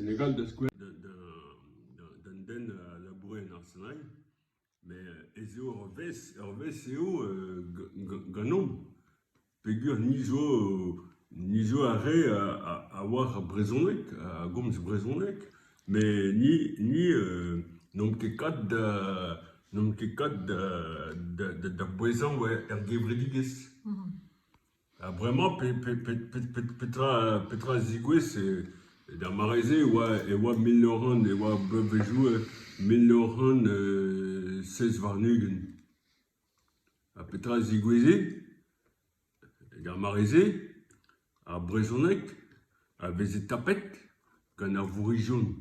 Legal d'un den a laboure en arsenal met ez eo ur vezh ur vezh eo ganeomp peogwir ni zo ni zo ar re a oar ar brezhoneg a gomz brezhoneg met ni ni n'omp ket kat da n'omp ket kat da da bouezañ er gevredigezh. Ha bremañ petra a zigouez d'ar mare-se e oa mil nav c'hant e oa bloavezhioù mil nav c'hant seiz warn-ugent. Ha petra a zigoueze d'ar mare-se ar brezhoneg a veze tapet gant ar vourrizion.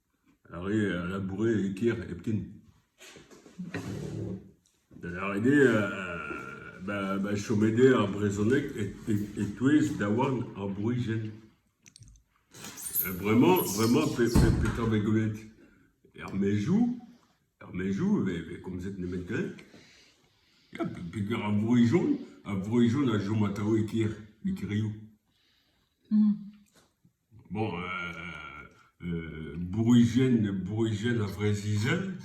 Ar re a laboure e-kêr hepken. Da lâret eo ma chome dezhe ar brezhoneg e-touez daouarn ar bourizien. Bremañ bremañ petra vez gwelet? Er maezioù, er maezioù e vez komzet nemet galleg. Ya peogwir ar Vorijon, ar Vorijon a chom atav e kêr, e kêrioù. Bon euh Bourrigen Bourrigen a Vreizh-Izel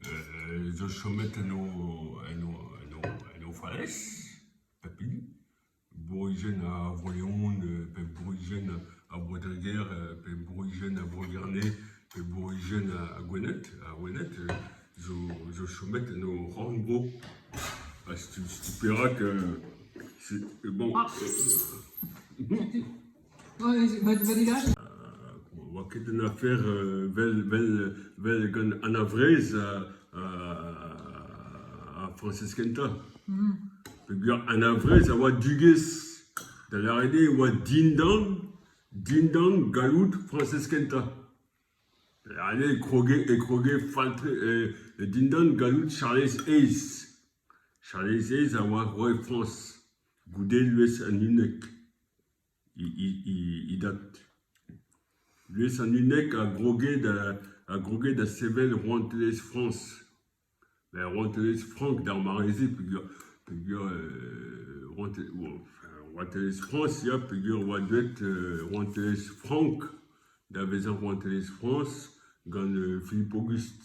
euh zo chomet en o en o en o en o falez pep hini. Bourrigen a Vro-Leon pe Bourrigen a Bro-Dreger pe Bourrigen a Bro-Gerne pe Bourrigen a Gwened ha Wened zo zo chomet en o rannvro. Ha stu stu perak bon. Ne oa ket un afer vel gant an a-vrez ha Frañsez kentañ peogwir an a-vrez a oa dugez da lâret eo e oa dindan dindan galloud Frañsez kentañ. Da lâret eo e kroge fall-tre dindan galloud Charlez Aez. Charlez Aez a oa roue Frañs goude lwez an unnek. he dad. Buhez an unnek a groge da a groge da sevel rouantelezh Frañs. Met rouantelezh frank d'ar mare-se peogwir peogwir rouantelezh Frañs ya peogwir oa deuet rouantelezh frank da vezañ rouantelezh Frañs gant Philippe Auguste.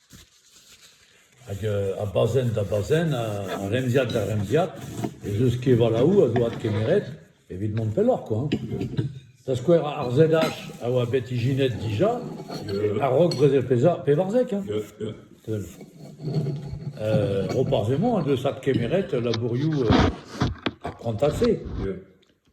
Hag a bazenn da bazenn, a remziad da remziad, ez eus kevalaoù a zo adkemeret evit mont pelloc'h koa. Da skouer ar ZH a oa bet ijinet dija, a-raok brezel pevarzek hein. Roparz Hemon en deus adkemeret labourioù ar prantad-se.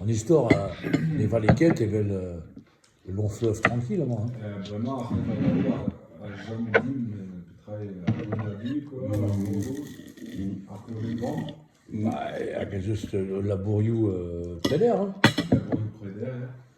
An istor a ne vale ket evel ul lanfleuf trankill amañ hein. Hag ez eus ul labourioù preder hein.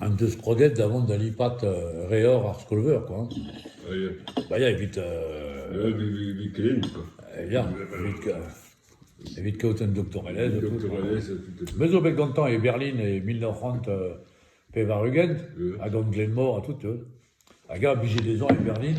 En deus kroget da vont da lipat reor ar skol-veur kwa. Ba ya evit ya evit evit kaout un doktorelezh et tout me zo bet gantañ e Berlin e mil nav c'hant pevar-ugent ha gant Glenmor ha tout tu all hag eñ a blije dezhañ e Berlin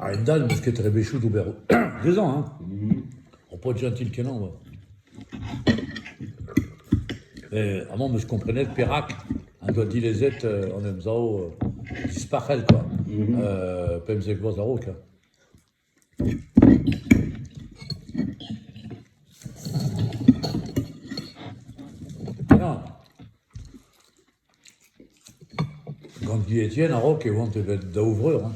A-hend-all n'eus ket rebechoù d'ober dezhañ hein, ho po digentil-kenañ oa. Met amañ 'm eus komprenet perak en doa dilezet an emsav dispac'hel kwa, pemzek vloaz a-raok hein. Ya. Gant Di Etienne a-raok e oant evel daou vreur hein.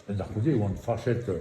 Da c'houde e oant fachet eo.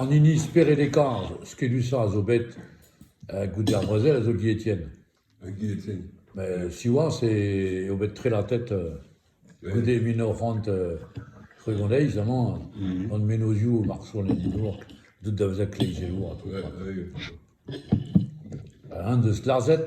An hini spered e karz skedusañ a zo bet goude ar brezel a zo Guy Etienne. Guy Etienne. Met siwazh eo bet trelatet goude mil nav c'hant tregont eizh amañ gant mennozhioù marso leninour deut da vezañ kleizelour ha tout. Eñ deus lazhet